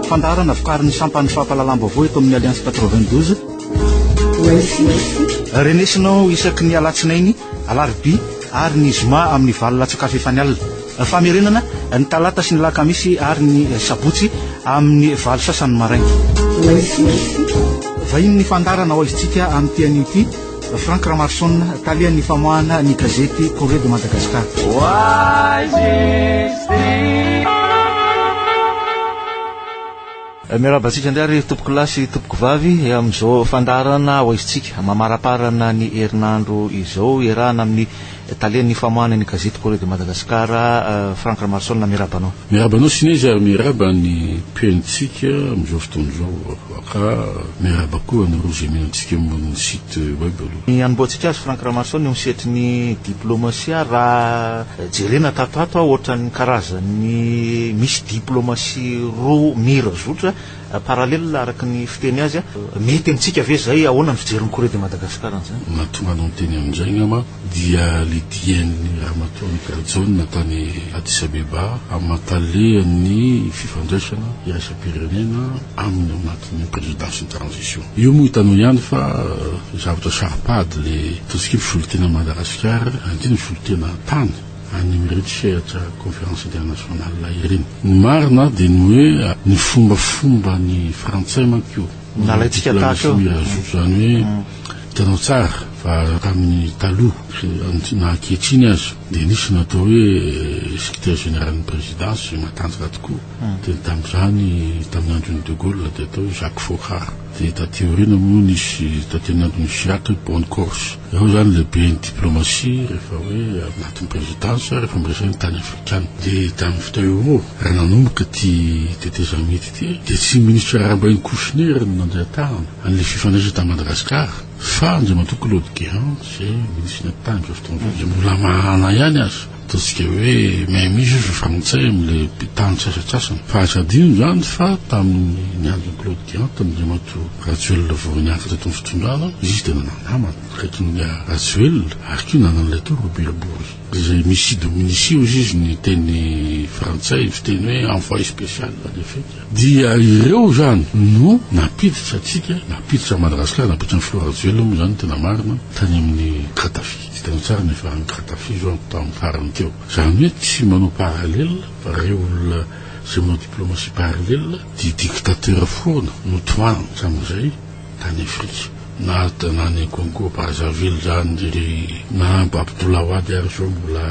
Fandaharana vokarin'ny sampan'ny fampahalalam-baovao eto amin'ny Alliance 92. Renesinao isaky ny alatsinainy, alarobia ary ny zoma amin'ny valo latsakafo efa ny alina. Famerenana ny talata sy ny lakamisy ary ny sabotsy amin'ny valo sasany maraina. Vahiny ny fandaharana ao amin'ity anio ity. Franck Ramarson, talehan'ny famoahana ny gazety Correo de Madagascar. Eh, miarahaba antsika indray ry tompoko lahy sy tompoko vavy eh, amin'izao fandaharana ho aizintsika mamaraparana ny herinandro izao iarahana amin'ny Talen'ny famoahana ny gazety Correo de Madagascar, Franck Ramarosaona, miarahaba anao. Miarahaba anao Sinezy ary miarahaba ny mpihainontsika amin'izao fotoana izao aho ka miarahaba koa anareo izay mino antsika ambony ny site web aloha. Ny hanombohantsika azy Franck Ramarosaona eo amin'ny sehatry ny diplaomasia raha jerena tato ato ohatra ny karazan'ny misy diplaomasia roa mira zotra, Parallèle araka ny fiteny azy, mety amintsika ve izay? Ahoana ny fijerin'i Corée de Madagascar an'izany? Mahatonga anao miteny amin'izay angamba dia ilay dian'i Ramatoa Amical John tany Addis Abeba aman-talen'ny fifandraisana iraisam-pirenena aminy ao anatin'ny présidence ny transition. Io moa hitanao ihany fa zavatra saro-pady ilay ataontsika hoe ny solontenan'i Madagasikara, indrindra ny solontenan-tany. any amin'ireny sehatra conférence internationale ireny. Ny marina dia ny hoe ny fombafomba ny frantsay manko io. Nalaintsika tahaka eo. Mirazoky izany hoe hitanao tsara fa tamin'ny taloha sy na ankehitriny aza dia nisy ny atao hoe secrétaire général-n'ny présidence izay matanjaka tokoa. Dia tamin'izany tamin'ny andron'i de Gaulle dia atao hoe Jacques Fochard. Dia taty aoriana moa nisy taty anatiny Chirac hoe bonne course. Ireo izany lehiben'ny diplomasia rehefa hoe anatin'ny présidence rehefa miresaka ny tany afrikana. Dia tamin'ny fotoana io koa raha nanomboka ity tetezamita ity dia tsy ny ministra Rahabainy Kouchner no nandeha tany an'ilay fifandraisana tany Madagascar fa Andriamatoa Claude Guéant izay ministra tany amin'izao fotoana izao izay mbola mahana ihany aza. Ataontsika hoe Mehmis io fifanintsahy amin'ilay mpitandro ny sasantsasany. Fa aza adino izany fa tamin'ny andron'i Claude Guéant, tamin'Andriamatoa Rajoelina vao niato teto amin'ny fitondrana, izy dia nanana namana akaikin'i Rajoelina ary koa nanana an'ilay teo Robert-Bory izay mis idominis ios izy ny teny frantsay fiteny hoe envoyé spécial à l'Afrique. Dia ireo izany no nampiditra antsika, nampiditra an'i Madagasikara, nampiditra an'i Filoha Rajoelina moa izany ny tena marina, tany amin'i Kadafi. Hitanao tsara ny faran'ny tratafizo an, tamin'ny farany teo. Izany hoe tsy manao parallèle fa ireo olona izay manao diplomatie parallèle dia dictateur foana no tohany hatramin'izay tany Afrika. Na na any Congo Brazzaville izany ry Nahamba Abdoulawad ary izao mbola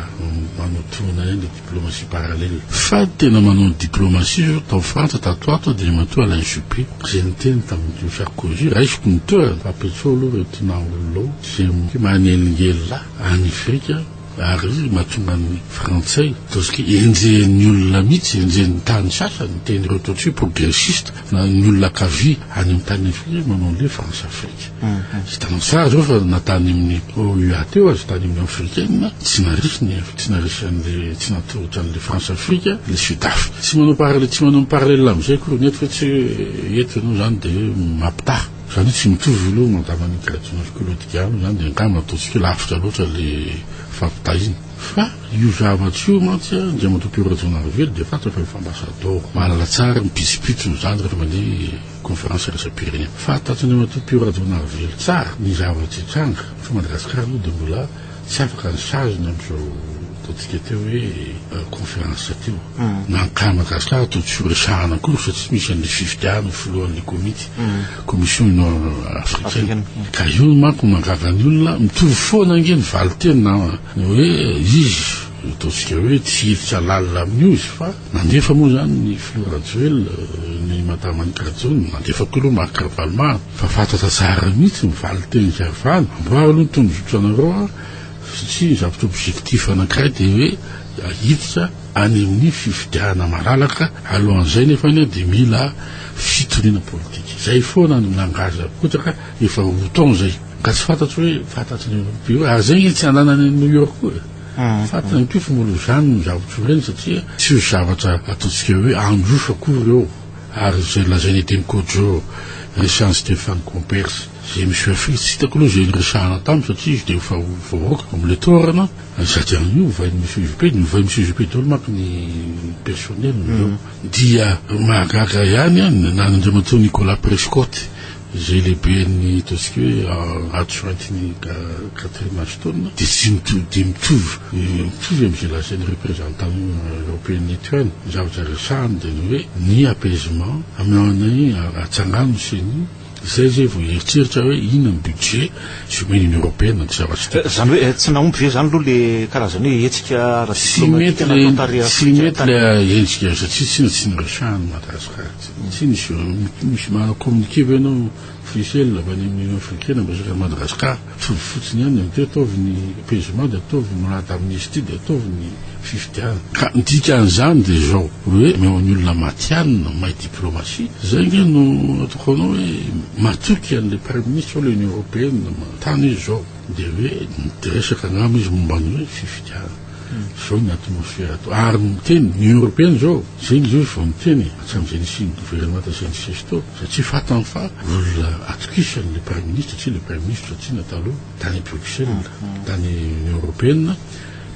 manao tohina ihany. Diplomatie parallèle. Fady tena manao ny diplomatie zao tao Frantsa tato ato Andriamatoa Alain Juppé izay niteny tamin'ity Sarkozy raisiko ny toerany fa Petso aloha ireo Tinah olona ao izay mi manelingelina any Afrika ary mahatonga ny Frantsay ataontsika hoe enjehin'ny olona mihitsy enjehin'ny tany sasany ny teny ireo ataontsika hoe progressiste na ny olona ankavia any amin'ny tany Afrika manao an'ilay France Afrique. Hitanao tsara izao fa na tany amin'ny OUA teo aza, tany amin'ny Afrikana, tsy narisy ny tsy narisy an'ilay tsy natolotra an'ilay Françafrique ilay Sudaf. Tsy manao parallèle tsy manao ny parallèle amin'izay akory ny eto fa tsy hoe eto ianao izany dia hoe mampitaha. Izany hoe tsy mitovy aloha ny andavan'ny Gradon'Afrique aloha diga aminy izany dia angamba ataontsika hoe lavitra loatra ilay fampitahiana. Fa io zavatra io mantsy an, Andriamatoa Pierrot Rajaonarivelo dia fantatra fa efa ambasadaoro, mahalala tsara ny pitsopitsony izany rehefa mandeha Conférence iraisam-pirenena. Fahatatsindrimatoa Pio Rajaonarivelo tsara ny zava-nitranga fa Madagascar aloha dia mbola tsy afaka ny saziny amin'izao ataontsika teo hoe conférence teo. Na ny cas Madagascar toa tsy ho resahana akory fa tsy misy an'ilay fifidiana ho filohan'ilay komity, commission union africaine. Ka io no manko mangaga ny olona, mitovy foana ange ny valinteny na ny hoe izy, ataontsika hoe tsy hiditra lalina amin'io izy fa. Nandefa moa izany ny filoha Rajoelina ny Madame Anny Karajona, nandefa koa aloha Marc Ravalomanana, fa fantatra tsara mihitsy ny valin-teny hiavahana, amboary aloha ny tondrozotra anareo a, satria ny zavatra objectif anankiray dia hoe hiditra any amin'ny fifidianana malalaka, alohan'izay nefany a dia mila fitoriana politika, izay foana ny langage apotraka, efa roa taona izay ka tsy fantatro hoe fantatry ny Européens ary izay nge tsy hananan'ny an'i New York koa e. Fantany ny toetra mbola ho zany ny zavatra ho reny satria tsy ho zavatra ataontsika hoe handroso akory ireo ary izay nolazain'i Edem Kodjo resahin'i Stéphane Comperse izay misy hoe Afrika tsy hitako aloha izay niresahana taminy satria izy dia efa ho voaroaka ao amin'ilay toerana sady any io ovain'ny Miss UGP ny ovain'ny Miss UGP daholo manko ny personnel-ny dia mahagaga ihany an na an'Andriamatoa Nicolas Prescott izay lehiben'ny ataontsika hoe adjointe-n'i Catherine Ashton, dia tsy mitovy, dia mitovy, mitovy amin'izay lazain'ny représentant européen eto ihany. Ny zavatra resahany dia ny hoe ny apaisement, amin'ny atsangano ny ceni, izay izay vao hieritreritra hoe inona ny budget sy omen'ny Union européenne an'ity zavatra ity. Izany hoe tsy nahomby ve izany aloha ilay karazana hoe hetsika ara-diplomatika nataon'ny tarihan'Afrika Atsimo? Tsy mety ilay hetsika satria tsinona tsy niresahana an'i Madagasikara. Tsy misy misy ma communiquer ve ianao officiel avy any amin'ny union africaine miresaka an'i Madagascar fa ny fotsiny ihany ny teo ataovy ny apaisement dia ataovy ny manat amnistie dia ataovy ny fifidianana ka ny dikan'izany dia izao hoe omeo ny olona matihanina may diplomatie izay ange no ataoko anao hoe matoky an'ilay praiminisitra ao ilay union européenne manontany izy izao dia hoe miresaka angamba izy momba ny hoe fifidianana Zao ny atmosfera ato. Ary miteny, ny Europeana zao, zegny zao izy vao miteny e, hatramin'izay nisian'ny gouvernemanta izay nisesy tao, satria fatany fa olona atokisany le Praiminisitra, tsy le Praiminisitra Tsina taloha, tany Bruxelles, tany Union Europeana,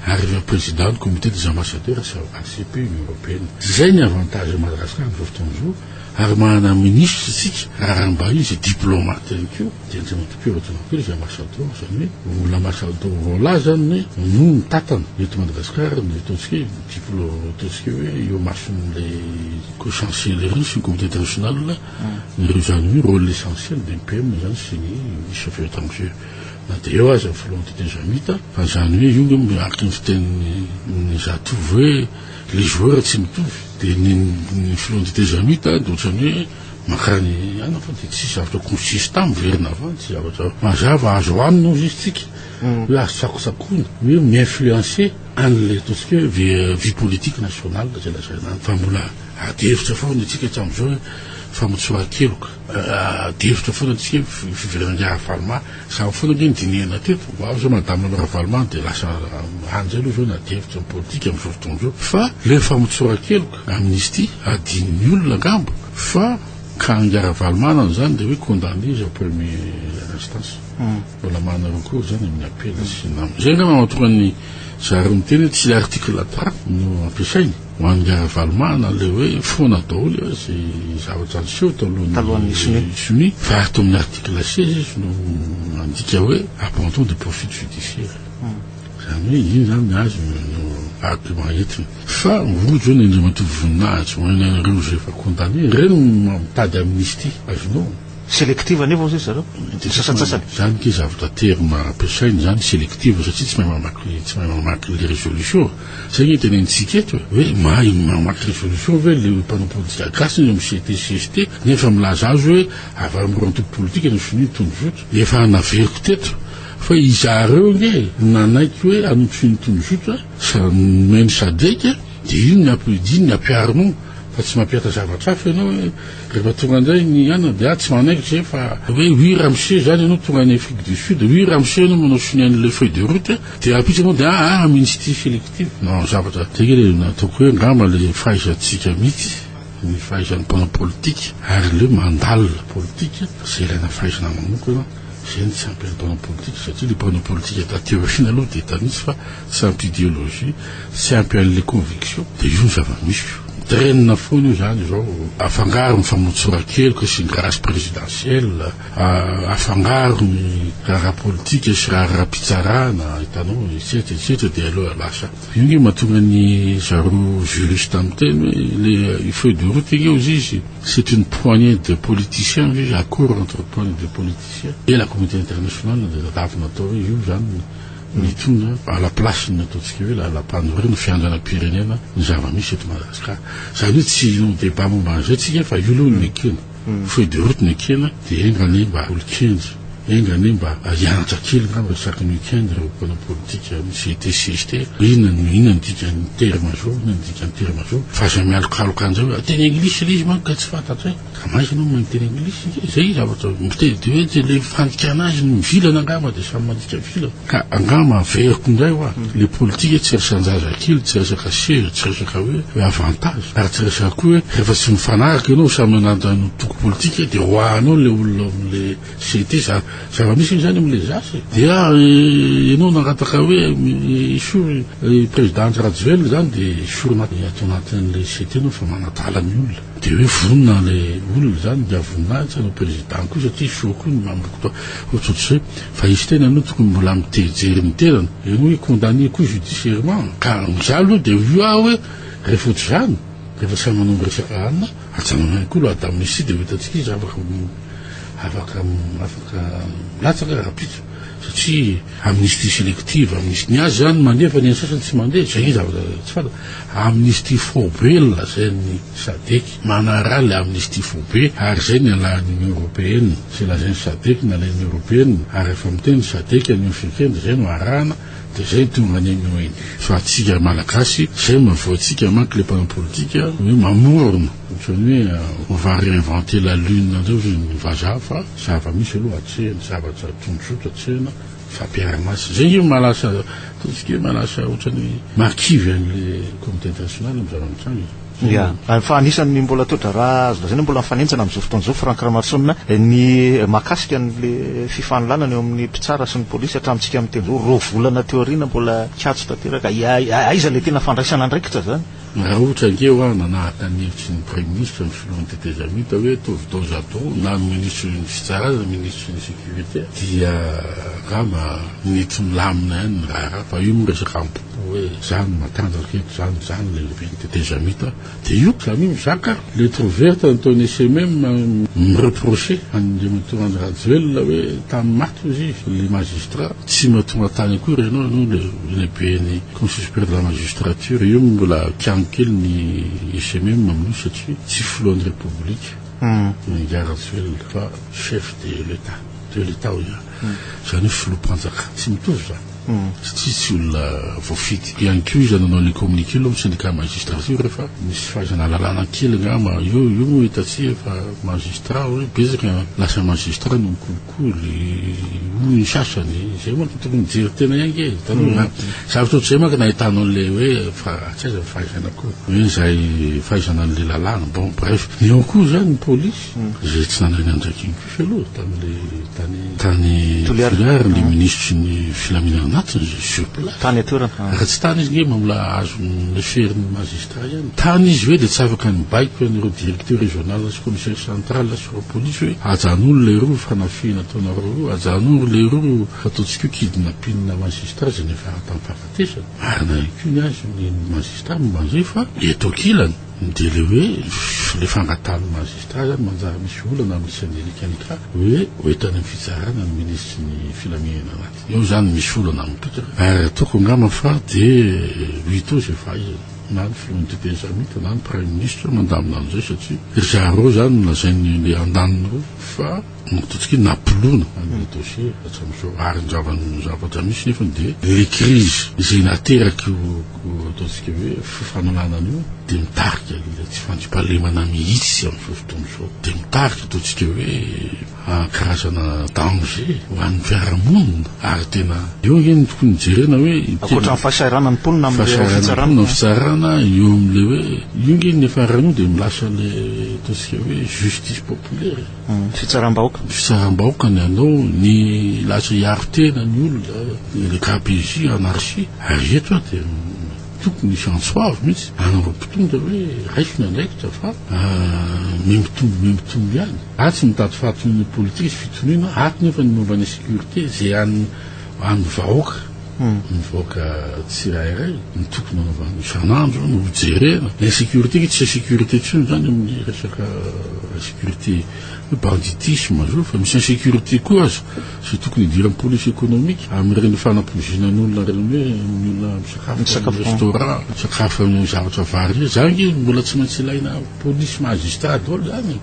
ary ilay Président ny Comité des Ambassadeurs ACP, Union Europeana. Zay ny avantage an'i Madagascar am'zao fotoana zao, ary manana Minisitra isika, raharaham-bahiny sy diplomate ihany koa. Dia tsy maintsy mpiova dimampolo izy ambasado, izany hoe olona ambasado voalaza ny no mitatana eto Madagasikara ny ataontsika hoe diplôme ataontsika hoe eo amason'ilay ko chancellerie sy ny comité international ireo izany hoe rôle essentiel dia ny PM izany sy ny ministre affaires étrangères na dia eo aza ny filohan'ny TT Jamita fa izany hoe io no miaraka ny fitenin'ny zatovo hoe les joueurs tsy mitovy dia ny ny filohan'ny TT Jamita dia ohatran'ny hoe Mankany aina fa dia tsisy zavatra tokony ho tsisy tany miverina avy any, tsy zavatra mazava azo anina hozy izy tsika hoe azo tsakotsakona hoe mi-influencer an'ilay ataontsika hoe ve- vie politique nationale izay lazaina any fa mbola ady hevitra foana itsika hatramin'izao hoe famotsoran-keloka Ah, ady hevitra foana antsika hoe fi- fiverenan'i Ravaloma izany foana ange no dinihana teto vao avy izao madame anao Ravaloma dia lasa any izay aloha izao ny ady hevitra ny politika amin'izao fotoana izao fa ilay famotsoran-keloka Amnistie adinon'ny olona angamba fa ka ingahy Ravalomanana zany dia hoe condamné izy en première instance mbola manana recours zany amin'ny appel sy nam izay angamba mahatonga ny zareo miteny hoe tsy article trois no ampiasainy ho an'i ingahy Ravalomanana ilay hoe foana daholo eo izay zavatra niseho talohan'ny sonia fa ato amin'ny article seize izy no mandika hoe abandon de poursuite judiciaire izany hoe iny zany ny azy no argument entiny Fa rojo hono Andriamatoa voninahitra ho anareo izay efa condamné, ireny no mitady amnistie azonao. Selective anefa hozy ry zareo, ny sasantsasany. Zany ke zavatra terme ampiasainy zany selective satria tsy mahay mamaky tsy mahay mamaky le résolution. Zay nge tenenitsika eto e, hoe mahay mamaky résolution ve le mpanao politika gasy ny amin'ny CT cst nefa milaza azy hoe avy amin'ny roa antoko politika ny sonia ny tondrozotra. Efa naveriko teto fa izahareo nge nanaiky hoe an'ny sonia ny tondrozotra. Fa nomey ny sadec dia iny ny ampiodiny ny ampiharinao fa tsy mampiatra zavatra hafa ianao hoe rehefa tonga indray ny anona dia ah tsy manaikitra izay fa hoe oui ramose izany ianao tonga any afrique du sud oui ramose ianao manao sonia an'ilay feuille de route dia raha pitsy ianao dia ah ah ministry selective non zavatra tegena nataoko hoe angamba ilay fahaizantsika mihitsy ny fahaizan'ny mpanao politika ary aleo mandalina politika izay ilaina fahaizana manokana, izay no tsy ampy an'ny mpanao politika satria ilay mpanao politika taty aoriana aloha dia efa misy fa tsy ampy ideologie, tsy ampy an'ilay conviction dia io ny zava-misy io. Mitrainina foana io izany izao, afangaro ny famotsoran-keloka sy ny grâce présidentielle, afangaro ny raharaha politika sy raharaha-pitsarana, hitanao, etsetra etsetra dia aleo lasa. Io nge matonga ny zareo juriste miteny hoe le feuille de route nge ozy izy c'est une poignée de politiciens ve izy accord entre poignée de politiciens et la communauté internationale de zafavy natao hoe io zany ny tonga à la place ny ataontsika hoe lalampanorenana fiandranam-pirenena ny zava-misy eto Madagasikara zany hoe tsy hanao débat momba an'izay tsika fa io aloha no ekena Feuille de route nekena dia enga anie mba olo-kendry, enga anie mba hianatra kely angamba isaky ny week-end ireo mpanao politika misy été CST hoe inona no inona no dikan'ny terme zao, inona no dikan'ny terme zao fa aza mialokaloka an'izay hoe teny anglisy ilay izy manko ka tsy fantatro e! ka maika ianao mahay miteny anglisy? izay zavatra miteny dia hoe ilay fandikana azy no mivilana angamba dia samy mandika vilana. Ka angamba averiko indray hoa, le politika tsy resan-jazakely, tsy resaka sezy, tsy resaka hoe hoe avantage, ary tsy resaka koa hoe rehefa tsy mifanaraka ianao samy manana ny antoko politika dia roahanao le olona ao amle CT, za zava-misy moa izany amle zase e! dia ianao nangataka hoe esory i président Andry Rajoelina izany dia esorina ato anatinle CT ianao fa manadala ny olona. Dia hoe vonona ilay olona izany dia voninahitra ilay président koa satria show koa ny manomboka tao ohatrohatr'izay fa izy tena aloha tokony mbola mitehijery ny tenany eo hoe condamné koa judiciairement ka za aloha dia io aho hoe rehefa ohatr'izany rehefa samy manao ny resaka hanina ajanona ihany koa loi d'amnistie dia ho hitantsika izy afaka afaka afaka milatsaka rahampitso satria amnistie selective amnistie ny azy zany mandeha fa ny an'ny sasany tsy mandeha zay ny zavatra tsy fantatra amnistie foibe ny lazain'ny sadec manara le amnistie foibe ary zay ny alahan'ny union européenne zay lazain'ny sadec ny alain'ny européenne ary efa miteny ny sadec an'ny africaine dia zay no arahana dia zay tonga any amin'ny onu fa antsika malagasy zay no mavoatsika manko le mpanao politika hoe mamorona Ohatran'ny hoe on va reinventer la lune indray hoy ny vazaha fa zava-misy aloha atsehina, zavatra tonjoto atsehina, fampiara-maso. Izay angamba maha lasa ataontsika hoe maha lasa ohatran'ny maha kivy an'ilay communauté internationale ny zava-mitranga e. Ia. Fa anisan'ny mbola toe-draharaha azo lazaina hoe mbola mifanenjana amin'izao fotoana izao, Franck Ramarotsonina, ny mahakasika an'ilay fifaninlanana eo amin'ny mpitsara sy ny polisy hatramintsika miteny izao, roa volana teo aoriana mbola katso tanteraka. Aiza ilay tena fandraisana andraikitra izany? Raha ohatra ange hoa nanahaka ny hevitry ny Praiminisitra ny Filohan'ny Tetezamita hoe ataovy dos à dos na ny Minisitry ny Fitsarana na ny Minisitry ny Sécurité dia angamba nety milamina ihany ny raharaha fa io moa resaka am-po hoe za no matanjaka eto, za no za no lehiben'ny Tetezamita dia io ka mi mizaka lettre ouverte nataon'i SMM mi reprocher an'Andriamatoa Andry Rajoelina hoe tany maty hozy izy le Magistrat tsy mba tonga tany akory ianao no lehiben'ny Conseil supérieur de la magistrature, io mbola kiango kely ny ICMM amin'io satria tsy filohan'ny Repoblika i Ingahy Rajoelina fa chef de l'Etat, de l'Etat hoy aho, izany hoe filoham-panjakana. Tsy mitovy izany satria tsy olona voafidy. Ihany koa iza nanao ilay communiqué aloha ny syndicat magistrature rehefa nisy fahaizana lalàna kely angamba io, io moa hitantsika fa magistrat hoe betsaka lasa magistrat no mikolokolo. Hoy ny sasany, izay manko dia tokony hijery tena ihany ange, taloha an. Zavatra ohatr'izay manko no ahitanao an'ilay hoe fa tsy aiza ny fahaizana koa, hoe izay fahaizana an'ilay lalàna. Bon, bref, eo koa izany ny polisy, izay tsy nanahy ny andraikiny koa izy aloha tamin'ilay tany tany Toliara, ilay minisitry ny filaminana anatiny izay sur place. Tany an-toerana. Raha tsy tany izy ange mba mbola azo lefery ny magistrat ihany. Tany izy ve dia tsy afaka nibaiko an'ireo directeur régional sy commissaire central. Ry polisy hoe ajanolo le roa fanafihana ataonareo roa ajanoro le roa ataontsika hoe kidnapine magistra zay ny fahatampahafatesana marina ihany koa ny azy ny magistra momba an'izay fa eto ankilany dia le hoe le fangatahan'ny magistra zany manjary misy olana amin'ny Sénélec ny cas hoe ho entany amin'ny fitsarana ny minisitry ny filaminana anaty eo zany misy olana mipika ary ataoko angamba fa dia ho hita eo izay fahaizana. na ny filohan'ny dite islamika na ny praiminisitra mandamina an'izay satria ry zareo izany no lazain'ny le andaniny ireo fa mankatotsika hoe napoloana an'ilay dossier hatramin'izao ary ny zava-ny ny zavatra misy nefany dia ilay crise izay nateraky io ataontsika hoe fifananana an'io dia mitarika ilay tsy fandriampahalemana mihitsy amin'izao fotoana izao dia mitarika ataontsika hoe karazana danger ho an'ny fiarahamonina ary tena eo ange ny tokony hijerena hoe ankoatra ny fahasahiranana ny mponina amin'ny fahasahiranana ny fitsarana eo amin'ilay hoe io ange ny faharanio dia milasa le ataontsika hoe justice populaire hmm, fitsaram-bahoaka fitsaram-bahoaka ny anao ny lasa hiaro tena ny olona le KPJ anarchie ary eto dia Tokony hisy antso avo mihitsy any amin'ireo mpitondra hoe raiso ny andraikitra fa miha-mitombo miha-mitombo ihany. Atsy mitady fahatoniana politika sy fitoniana, ato nefa ny momba ny sécurité izay an'ny an'ny vahoaka, ny vahoaka tsirairay no tokony hanaovana isan'andro no hojerena. Ny insécurité ange tsy insécurité intsony izany amin'ny resaka insécurité hoe banditisme izao fa misy insécurité koa aza. Tsy tokony hidiran'ny police économique amin'ireny fanampoizinan'olona ireny hoe ny olona misakafo amin'ny restaurant, misakafo amin'ny zavatra vary ireny. Izany ange mbola tsy maintsy ilaina police magistrat daholo izany e!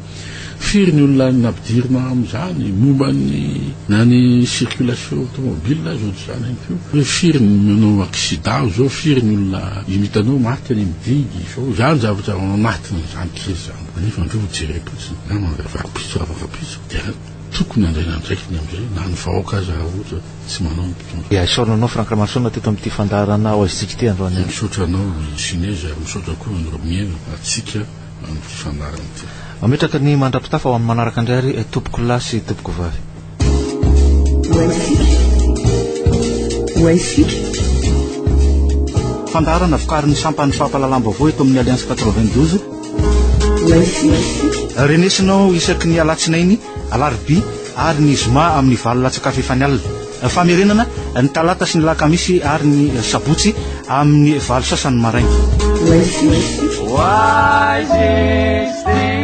Firy ny olona nampidirina amin'izany momba ny na ny circulation automobile aza ohatr'izany ihany koa. Hoe firy ny manao accident izao, firy ny olona hitanao maty any amin'ny digue izao. Izany zavatra ao anatin'izany crise izany. Nefa andreo hojerem-potsiny, na mandrava rahampitso raha vao rahampitso. Tokony handray ny andraikiny amin'izay na ny vahoaka aza raha ohatra tsy manao ny mpitondra. Dia isaorana anao Franck Ramarison teto amin'ity fandaharana Ao Azontsika ity androany Dia alina. misaotra anao Ginés ary misaotra koa an'i Romiena antsika amin'ity fandaharana ity. Mametraka ny mandra-pitafa ho amin'ny manaraka indray ary tompoko lahy sy tompoko vavy. Ho Azontsika. Ho Azontsika. Fandaharana vokarin'ny sampan'ny fampahalalam-baovao eto amin'ny Alliance quatre-vingt-douze. Renesinao isaky ny alatsinainy, alarobia ary ny zoma amin'ny valo latsak'afo efa ny alina. Famerenana ny talata sy ny lakamisy ary ny sabotsy amin'ny valo sasany maraina. Wise is this.